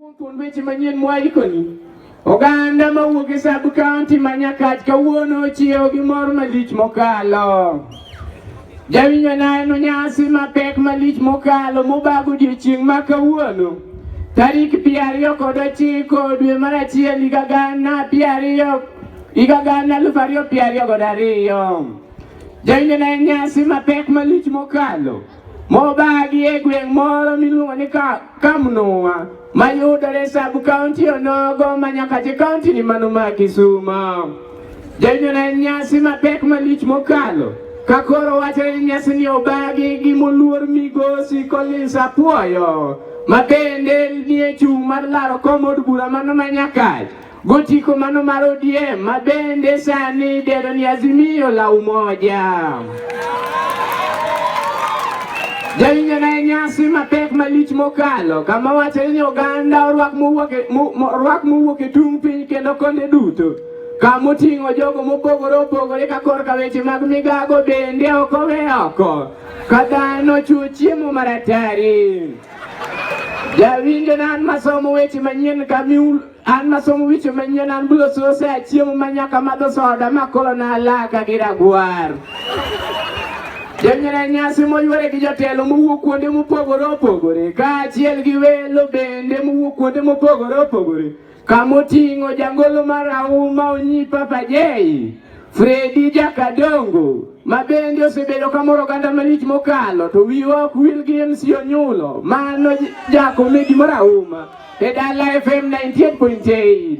Thuond weche manyien mwaikoni. Oganda mawuok e sub county ma Nyakach kawuono ochiewo gi mor malich mokalo. Jawinjo neno nyasi mapek malich mokalo mobago odiechieng' ma kawuono tarik piero ariyo kod ochiko dwe mar achiel higa gana piero ariyo higa gana aluf ariyo piero ariyo kod ariyo. Jawinjo neno nyasi mapek malich mokalo. Mobagi e gweng' moro miluongo ni Kamnua mayudore sub kaunti onogo ma nyaka je kaunti ni mano ma Kisumo. Jonyuol en nyasi mapek malich mokalo ka koro wacho ni nyasi ni obagi gi moluor migosi Collins Apuoyo ma bende nie chung' mar laro kom od bura mano ma Nyakach Gotiko mano mar ODM ma bende sani idendo ni Azimio la Umoja. Jawinjo na nyasi mapek malich mokalo kama wacho ni oganda orwak mowuok e tung' piny kendo konde duto kama oting'o jogo mopogore opogore ka korka weche mag migago bende ok owe oko ka dhano chuo chiemo maratari. Jawinjo na an masomo weche manyien kamiul An masomo wicho manyien an bulo sose achiemo ma nyaka madho soda ma koro nalaka gi ragwar. Jonyere nyasi moywere gi jotelo mowuok kuonde mopogore opogore kaachiel gi welo bende mowuok kuonde mopogore opogore kamoting'o jangolo marahuma onyi Papa Jay, Fredi Jakadongo ma bende osebedo kamoro oganda malich mokalo to wiwa ok wil gi MC Onyulo mano jakomedi marahuma. te daal la FM 98.8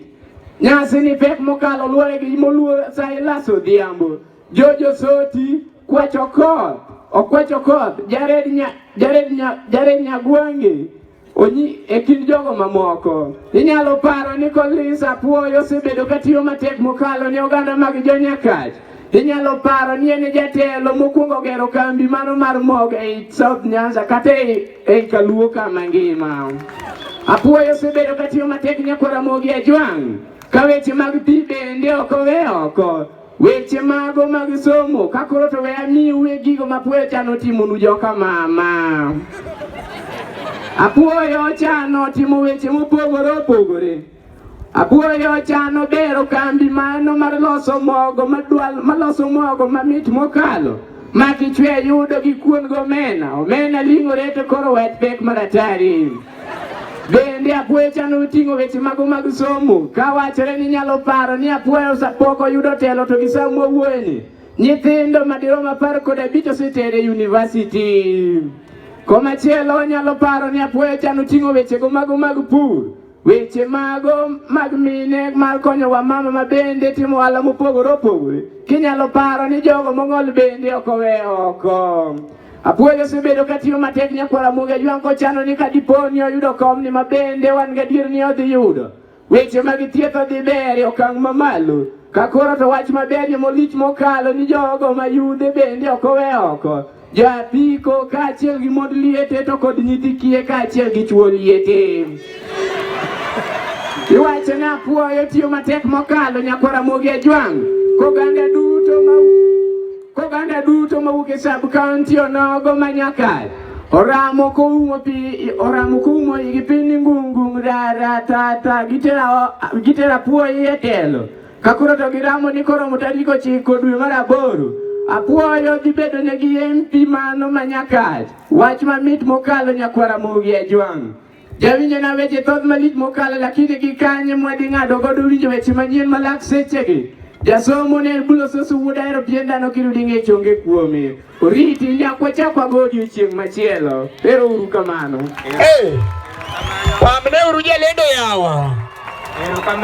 nyasi ni pek mokalo luore gi moluor sai laso odhiambo jojo soti kwacho koth okwacho koth jared nya jared nya jared nyagwange onyi e kind jogo mamoko inyalo paro ni kolis apuoyo osebedo katiyo matek mokalo ne oganda mag jonyakach Inyalo paro ni en e jatelo mokwongo gero kambi mano mar mog ei South Nyanza kata ei Kaluo ka mangima. Apuoyo osebedo katiyo matek nyako Ramogi Ajwang' ka weche mag pi bende ok owe oko weche mago mag somo ka koro to we amiwe gigo ma apuoyo chano timonu joka mama apuoyo chano timo weche mopogore opogore Apuoyo chano bero kambi mano mar loso mogo madwal maloso mogo mamit mokalo ma kichwe yudo gi kuon gomena omena ling'ore to koro wet pek maratari bende apuoyo chano oting'o weche mago mag somo ka wachore ni nyalo paro ni apuoyo sapoko yudo telo to gi sama owuoyeni nyithindo madirom apar kod abich osetere yunivasiti komachielo onyalo paro ni apuoyo chano ting'o wechego mago mag pur Weche mago mag mine mar konyo wamama ma bende timo ohala mopogore opogore kinyalo paro ni jogo mong'ol bende ok owe oko. Apuoyo osebedo katiyo matek nyakwara Mugi Ajwang' kochano ni ka dipo ni oyudo komni ma bende wan gadier ni odhi yudo. Weche mag thieth odhi ber e okang' mamalo ka koro to wach maber molich mokalo ni jogo ma yudhe bende ok owe oko. Japiko kaachiel gi mond liete to kod nyithi kiye kaachiel gi chuo liete. Iwacho ni apuoyo tiyo matek mokalo nyakwara mogi e jwang' koganda duto ma koganda duto mawuok e sub county onogo ma nyakal oramo koumo pi oramo koumo igi piny ngungung rara tata gitera gitera puoyi e telo Ka koro to giramo ni koro mo tarik ochiko dwe mar aboro, apwoyo dhi bedo ne gi MP mano ma nyakach. Wach mamit mokalo nyakwara mogi e jwang'. Jawinjo na weche thoth malich mokalo lakini gi kanye mwadi ng'ado godo winjo weche manyien malak sechegi. Jasomo ne bulo sosu wuod ahero pien dhano kirudi ng'e chonge kuome. Oriti nyakwa chakwa go odiochieng' machielo. Ero uru kamano. Hey, pamne uru jalendo yawa. Ero kamano.